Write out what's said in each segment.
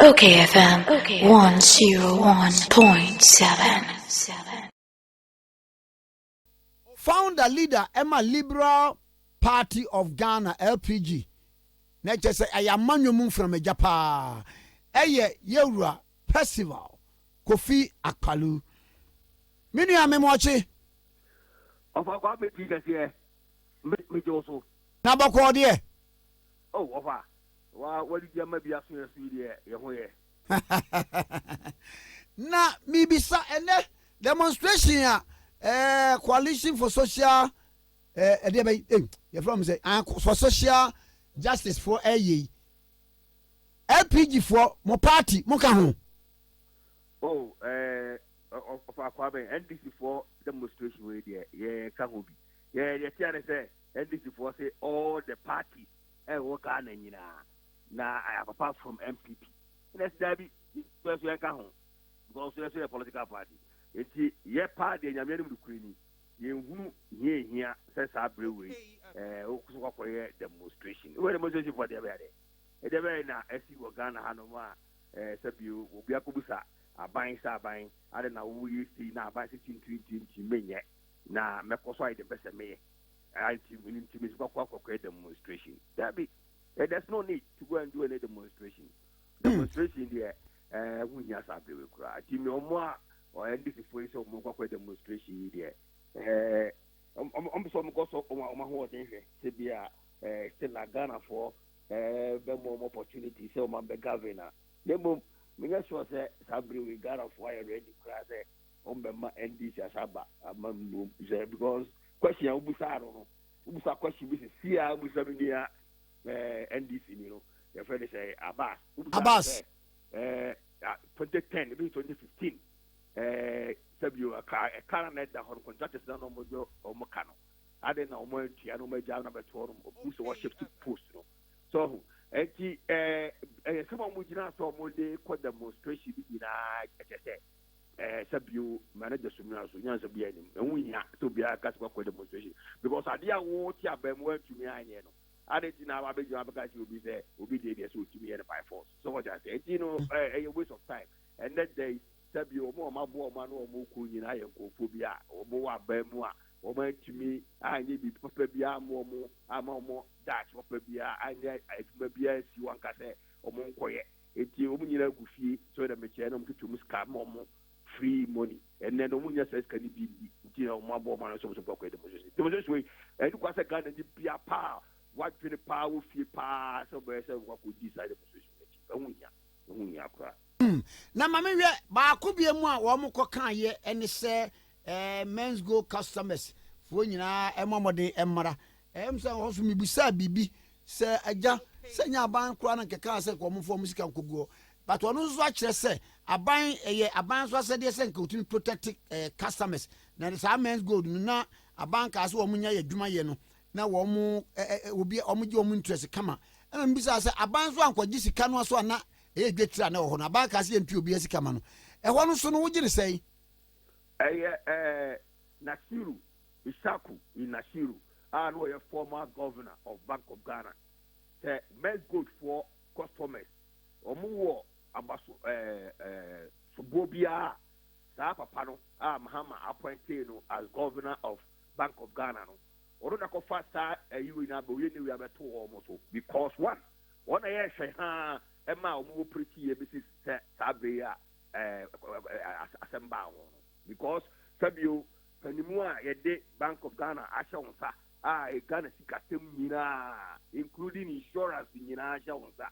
Okay FM 101.7 Founder leader ɛma Liberal Party of Ghana LPG na ɛkyɛ sɛ ɛyɛ amanyɔ mu mframagya paa ɛyɛ yɛwura Percival Kofi Akpalu. Me nua me mɔkye. Ɔfa kwa me ti kɛseɛ me gye wo so. Na bɔkɔɔ deɛ. Oh ɔfa. Wa wadidi ama bi aso yɛn so yi deɛ yɛ ho yɛ. Na mebisa ɛnɛ demonstration a eh, coalition for social eh, ɛdeɛ bɛyi eh, yɛfrɛ mo sɛ ah, for social justice foɔ ɛyɛ yi LPG foɔ mo party mo ka ho. Oh, eh, ɔfa akɔ abɛn NDC foɔ demonstration wei deɛ yɛ ka ho bi yɛ yɛ tia ne sɛ NDC foɔ se all the party. ɛwɔ Ghana nyinaa na apapa from NPP ɛna ɛsi daabi yɛ so yɛnka ho because yɛ so yɛ political party nti yɛ paa deɛ nyameɛ nom nukuri ni yɛnhunu hia hia sɛ saa berɛ wei ɛɛ wokoso kɔkɔyɛ demonstration wɔ demonstration fɔ deɛ bɛyɛ dɛ ɛdeɛ bɛyɛ na ɛsi wɔ Ghana ha nom a ɛɛ sɛ bio obi akɔbusa aban sɛ aban ade na woyɛ sei na aban sɛ tintintintin menyɛ na mɛkɔ so ayɛ deɛ mpɛ sɛ meyɛ Ah, nti, nti mesi kɔkɔ akɔkɔɛ demonstration. Dabi, eh, there's no need to go and do any demonstration. Hmm. Demonstration deɛ, eh, ho hia saa bere koraa. Nti me ɔmo a, ɔyɛ NDC fo yi sɛ ɔmo kɔkɔ demonstration yi deɛ, eh, ɔmo sɛ ɔmo kɔ so ɔmo ɔmo ahoɔden hwɛ sɛ bi a, eh, still a Ghana foɔ, eh, bɛ mo ɔmo opportunity sɛ ɔmo abɛ govern a. Ne mmom, menyɛ sure sɛ saa bere wei Ghana foɔ ayɛ ready koraa sɛ ɔmo bɛ ma NDC asaba ama mmom sɛ because. Question a wobisaa no no, wobisa question bi sesie a wobisa me nua eh, NDC ni no, yɛfrɛ no sɛ Abbas. Wobisa Abbas. sɛ eh, 2010 ebi 2015 eh, sɛbio ɛka ɛka na ɛda hɔ no contractors na na wɔn de wɔn ka no ade na wɔn atua na wɔn agya na bɛto hɔ no wɔn sɛ wɔhyɛ to post no so ɔho ɛti ɛɛ ɛyɛ sɛ wɔn gyina sɛ wɔn de kɔ demonstration bi nyinaa ɛkyɛ sɛ. Ɛɛ sɛ bio ma ne gyaso nua so nyansa biara nim ɛho hia sɛ obiara ka sɛ wakɔ demonstration because adeɛ a wote abaamu antumi anyɛ no ade nti na wabɛgyina abɛka kyerɛ obi sɛ obi deɛ deɛ sɛ ɔtumi yɛ no by force so wɔte aseɛ nti no ɛyɛ waste of time ɛnɛ da yi sɛ bio ɔmo ɔmo aboa ɔmo ano ɔmo kɔ nyinaa yɛ nkurɔfoɔ bi a ɔmo wɔ abaamu a ɔmo antumi anyɛ biribi papa bi ama ɔmo ama ɔmo daakye papa bi a anyɛ adwuma bi ansi wɔn ka sɛ ɔmo nkɔyɛ Enti wɔn nyinaa gu fie sɛ dɛm nkyɛn na wɔtwetwe wɔn sika ma wɔn free money. Ɛnnɛ no wɔnnya saa sika no bi nni nti na wɔabɔ wɔn ano sɛ wɔn nso bɛkɔ demonstration. Demonstration wei ɛni kwa sɛ Ghanani bia paa wadwene paa wɔ fie paa sɛ ɔbɛyɛ sɛ wakɔdi saa demonstration no akyi. Ɛho nhia. Ɛho nhia koraa. Hmm, na ma me hwɛ baako bia mu a wɔn kɔ kaa yɛ ɛne sɛ eh, Menzgo customers foɔ nyinaa ɛmɔ mmɔden mmra Ɛyɛ me sɛ ɔhɔfo mibisaa biribi sɛ, Agya, sɛ ɛnyɛ aban koraa na nkɛkaa sɛ nka wɔmfa wɔn sika nkɔgu hɔ. But ɔno nso akyerɛ sɛ aban ɛyɛ aban nso asɛdeɛ sɛ nka wɔtumi protect eh, customers. Na de saa men's gold no na aban kaa sɛ wɔn nya yɛ adwuma yɛ no na wɔn eh, eh, eh obi wɔn gye wɔn interest kama. Ɛna mibisaa sɛ aban nso ankɔgye sika no aso a na ɛyɛ dwetire a na ɛwɔ hɔ no aban kaa sɛ yɛntua obiara sika ma no. Ɛhɔ no so no wogye ne sɛn? Ɛyɛ eh, Nasiru. Issaku Inasiru a na ɔyɛ former Governor of Bank of Ghana sɛ Mezgold foɔ customers wɔn wɔ abaso ɛɛ ɛɛ soboɔ biara a saa papa no a Mahama appointee no as Governor of Bank of Ghana no ɔno na kɔfa saa ɛyi wei no abɛ ɔyɛ ne wei abɛto wɔn so because one wɔn na yɛhwɛ haa ɛma a wɔn operate yɛ bɛsi sɛ saa bere yi a ɛɛ asɛm baa wɔn no because sɛbio Panimu a yɛde Bank of Ghana ahyɛ wo nsa a Ghana sikasɛm nyinaa including insurance nyinaa hyɛ wo nsa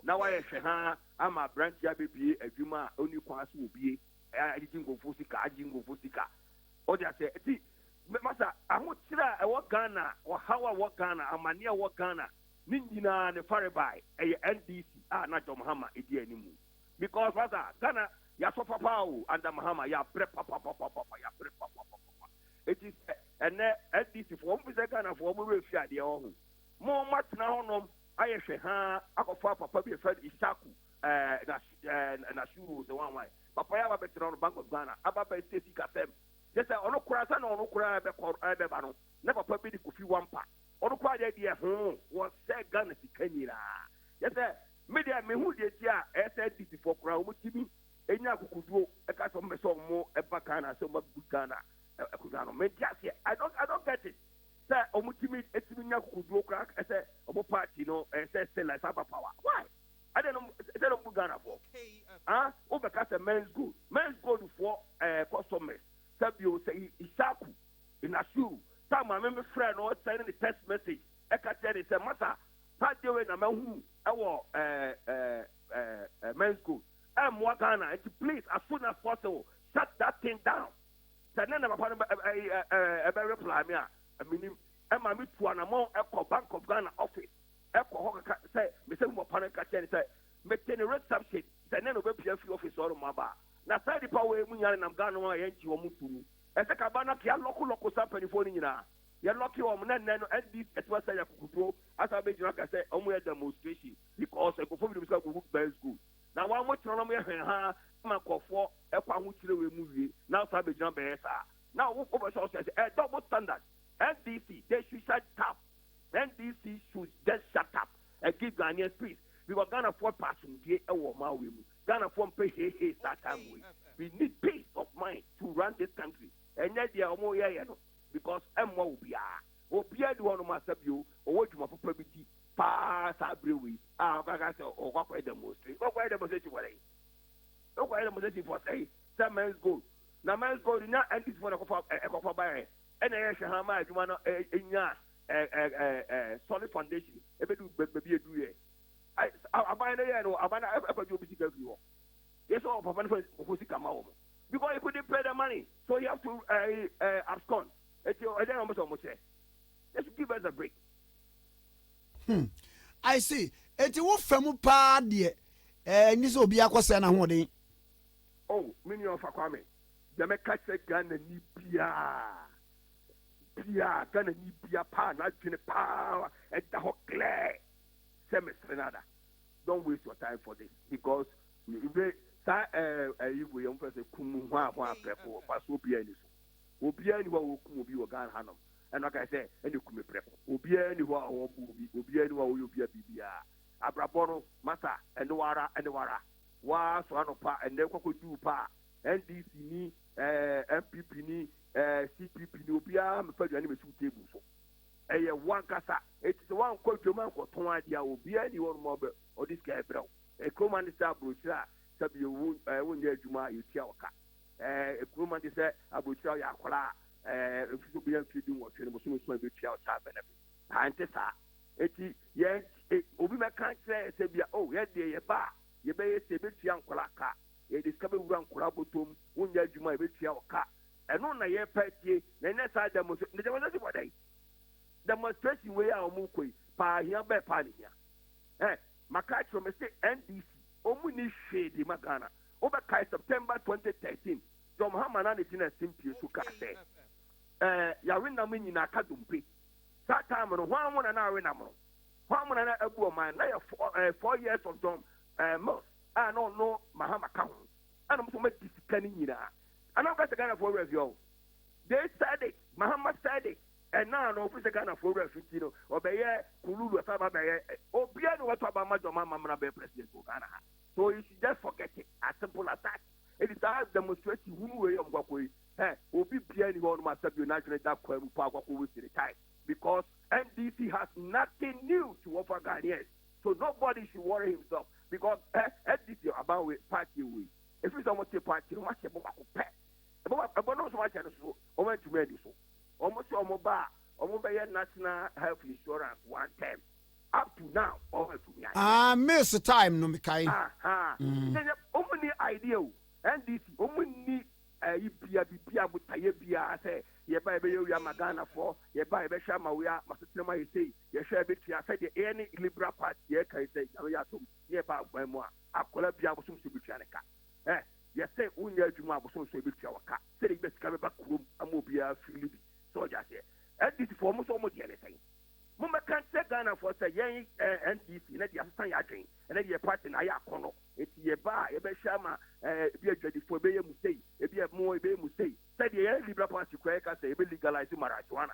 na wayɛ hwɛhaa ama aberanteɛ abɛbue adwuma a ɔnni kwan so obue agyegye nkurɔfoɔ sika agye nkurɔfoɔ sika ɔde aseɛ nti masa ahokyerɛ a ɛwɔ Ghana ɔhaw a ɛwɔ Ghana amaneɛ a ɛwɔ Ghana ne nyinaa ne farebae ɛyɛ NDC a na John Mahama ɛdi animu. Because pasa Ghana yasɔ papa o under Mahama yabrɛ papapapapa yabrɛ papapapapa eti sɛ ɛnɛ NDC foɔ ɔmo fi sɛ Ghana foɔ ɔmo werɛ fi adeɛ wɔ ho mo mo atena hɔ nom ayɛ hwɛ haa akɔfa papa bi efɛ no Isaku ɛɛ na ɛɛ na suru sɛ wan wan papa yɛ aba bɛtena hɔ no Bank of Ghana aba bɛ sɛ sika sɛm kyɛ sɛ ɔno koraa sɛ na ɔno koraa ɛbɛkɔ ɛbɛba no na papa bi de kofi wampa ɔno koraa deɛ deɛ hoo wɔ sɛ Ghana sika nyinaa yɛ sɛ Me deɛ menhu deɛ nti a SNDC foɔ koraa wɔn tumi nya akokoduo ɛka sɛ wɔn pɛ sɛ wɔn ɛba Ghana sɛ wɔn bɛ boot Ghana akonwa no mente aseɛ I don't I don't get it sɛ wɔn tumi ɛtumi nya akokoduo koraa ɛsɛ wɔn party no ɛsɛ ɛsɛ like saba power why ɛdɛ no ɛsɛ na wɔn boot Ghana foɔ ah wɔn bɛ ka sɛ men's gold men's gold foɔ ɛɛ eh, customers sɛ bio sɛ isaku inasuru sɛ maame mi frɛ no send ne text message ɛka kyerɛ ne sɛ masa Saa adeɛ wei na mahunu ɛwɔ ɛɛ ɛɛ ɛɛ men's school ɛmmoa Ghana nti please as soon as possible shut that thing down sɛ nɛ na papa no ɛɛ ɛɛ ɛɛ ɛbɛ reply me a menim ɛma me tu anamɔn ɛkɔ Bank of Ghana office ɛkɔ hɔ kaka sɛ mesɛ mu papa no nka kyerɛ ne sɛ mete ne reception sɛ nɛ na ɔbɛpia fi office hɔ nom aba na saa nipa wei mu nya nenam Ghana ho a yɛngye wɔn nto mu ɛsɛ ka ba no kea lɔko lɔko saa mpanimfoɔ no nyinaa. Yɛ lɔki wɔn na nnɛ no NDC ɛte w'asɛ yɛ akukufoɔ asan bɛ gyina aka sɛ wɔn yɛ demonstration because nkurɔfoɔ binom sɛ wɔn ho bɛs good na wɔn mo tena na wɔn yɛ hɛnhaa ma nkurɔfoɔ ɛkɔ ahokyerɛ wei mu wie na asan bɛ gyina bɛyɛ saa na wo wo bɛ sɛ ɔsɛ sɛ ɛ double standard NDC they should shut up NDC should just shut up and give Ghanaians peace because Ghanafoɔ pɛ asomdue ɛwɔ wɔn awɛ mu Ghanafoɔ mpɛ hei hei saa time wei we need peace of mind to run this country ɛnyɛ deɛ wɔn yɛ yɛ no. Because ɛmmoa obiara. Obiara nni hɔnom a sɛbio ɔwɔ dwuma papa bi di paa saa berɛ wei a ɔka ka sɛ ɔkɔ akɔyɛ demonstration. Wokɔyɛ demonstration for sɛn? Wokɔyɛ demonstration for sɛn? Sɛ Men's Gold. Na Men's Gold na NDC foɔ na ɛkɔfa ɛkɔfa baeɛ ɛna ɛyɛ hwɛ ha ma adwuma no ɛnya ɛ ɛ ɛ ɛ solid foundation ɛbɛdu baabi ɛduruiɛ. Aban no yɛɛ no aban no ɛfa gye obi sika firi hɔ. Yɛ sɛ ɔpapa no fa ɔfo sika ma wɔn. Because he could pay the money. So you have to uh, uh, abscond. It's your idea almost almost say. Just give us a break. Hmm. I see. It's wo famu pa deɛ. Eh, ni so obi akɔsɛ na hoɔden. Oh, me ni ɔfa kwame. Dɛmɛ ka kyerɛ Ghana ni biara. Biara Ghana ni biara paa n'adwene paa ɛda hɔ clear sɛ mesere n'ada. Don't waste your time for this because we saa ɛɛ ɛyi wei yɛn fɛ sɛ kum hwaa hwaa prɛko ɔfa so obiara ni so obiara ni hɔ a wɔkum obi wɔ Ghana hanom ɛna ɔka sɛ ɛna kume prɛko obiara ni hɔ a wɔbu obi obiara ni hɔ a wɔyɛ obiara biribiara abrabɔ no masa ɛne wara ɛne wara waa so anɔpa ɛnɛ kɔkɔ duu pa a NDC ni ɛɛ FPP ni ɛɛ CPP ni obiara mefa aduane mesi wo table so. ɛyɛ wo ankasa. Enti sɛ woankɔ dwam ankɔtɔn adeɛ a, obiara nni hɔnom a ɔde sika rebrɛ wo. Nkrumah ne sɛ aburokyire a sɛ bio wo wonyɛ adwuma a yɛtua wo ka. Nkrumah ne sɛ aburokyire a woyɛ akwadaa a ɛmfa sɛ wobɛnya mfeɛ dunwɔtwe no, bosome nson yɛbɛtua wo child benefit. Haa ɛnte saa. Enti yɛn obi bɛka nkyerɛ yɛn sɛ bia oh yɛn deɛ yɛba a yɛbɛyɛ sei, yɛbɛtua nkwadaa ka, yɛde sika bɛwura nkwadaa bɔtɔ mu, wonyɛ adwuma a yɛbɛtua wo ka, Ɛno na yɛpɛ atie na ɛnyɛ saa dɛmo so demonstration bɔ dɛn? Demonstration wei a ɔmo kɔ yi paa hia bɛɛ paa ne hia? Hɛ maka akyerɛ me se NDC ɔmo nni hwee de ma Ghana wo bɛ kae September 2013 John Mahama na ne gyina simpie so kaa sɛ ɛɛ yawe nam nyina aka dompe saa time no hwan mo na na awe nam no hwan mo na na abu ɔman na yɛ four, ɛɛ, four years of John ɛɛ, Mills a na ɔno Mahama ka ho ɛna ɔmo sɛ ɔmo agye sika no nyinaa ɛna ɔka sɛ Ghana foɔ werɛ afi hɔ they said it Mahama said it ɛna ano ɔfiri sɛ Ghana foɔ werɛ afi nti no ɔbɛyɛ kululu ɛsɛ aba bɛyɛ obiara na wɔto aba ma Jɔma Mamra bɛyɛ president wɔ Ghana ha so you should just forget it as simple as that ɛdi saa demonstration hunu wei ɔmo kwakɔ yi hɛ obi biara ni hɔ ɔnom asa bio n'adwene da kwa mu paa kwakɔ waste the time because NDC has nothing new to offer Ghanaians. So nobody should worry himself because eh ndc aban wei party wei efiri sɛ wɔn te party no wɔn ahyɛ ɛbɔ baako pɛ ɛbɔ baako ɛbɔ no nso wɔn ahyɛ no so wɔn antumi andi so wɔn sɛ wɔn ba a wɔn bɛyɛ national health insurance one term up to now wɔn antumi ayɛ. Ah mills time no mekae. Ahaa mm. yɛyɛ wɔn ni idea o ndc wɔn ni ɛyi eh, bia bibia botaeɛ bia sɛ yɛba yɛbɛyɛ wia ma ghanafoɔ yɛba yɛbɛhwɛ ama wia ma sotere ma yɛ sei Yɛhwɛ a ɛbɛtua sɛdeɛ yɛn ne Liberal Party yɛɛkan sɛ Nyame yɛ adom ne yɛba aguan mu a, akwadaa biaa abosom nson bɛtua ne ka. Ɛh, yɛse wo nyɛ adwuma a abosom nson bɛtua wo ka sɛdeɛ yɛbɛnya sika bɛba kurom ama obiaa feeli bi sɛ ɔgye aseɛ. NDC foɔ mo nso mo deɛ ne sɛn? Mo mmɛka nkyerɛ Ghana foɔ sɛ yɛn ɛh, NDC no deɛ yɛasesa yɛn adwen, ɛnɛ deɛ yɛn party no ayɛ akɔnnɔ nti yɛba a yɛbɛhwɛ ama ɛh, ebi a adwadi foɔ yɛbɛyɛ mo sei, ebi a mo yɛbɛyɛ mo sei. Sɛdeɛ yɛn Liberal Party koraa yɛka sɛ yɛbɛ legalize marijuana.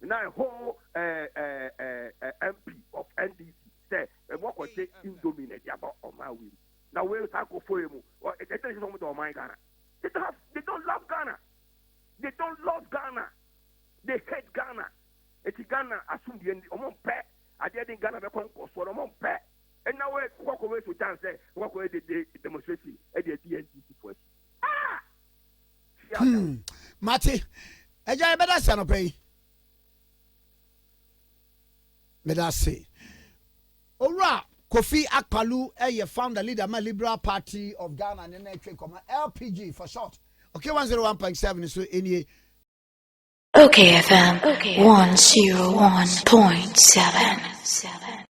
Na ɛhɔ MP of NDC sɛ ɛmu ɔkɔgye indomie na ɛde aba ɔman wei mu na wei saa nkurɔfoɔ yi mu ɛkyɛ sɛ wɔn dɔ ɔman Ghana they don't have they don't love Ghana they don't love Ghana they hate Ghana eti Ghana asomdue ndi wɔn mpɛ adeɛ de Ghana bɛkɔ nkɔsoɔ na wɔn mpɛ ɛna wei kɔkɔ wei so gyan sɛ kɔkɔ yɛ de de demonstration ɛde adi NDC fo akyi. Hmm, mate agya yɛbɛda se anɔpa yi meda se owura kofi akpalu ɛyɛ founder leader ma liberal party of ghana ne na ɛtwe nkɔmɔ lpg for short okay 101.7 so ɛnie Okay FM okay, 101.7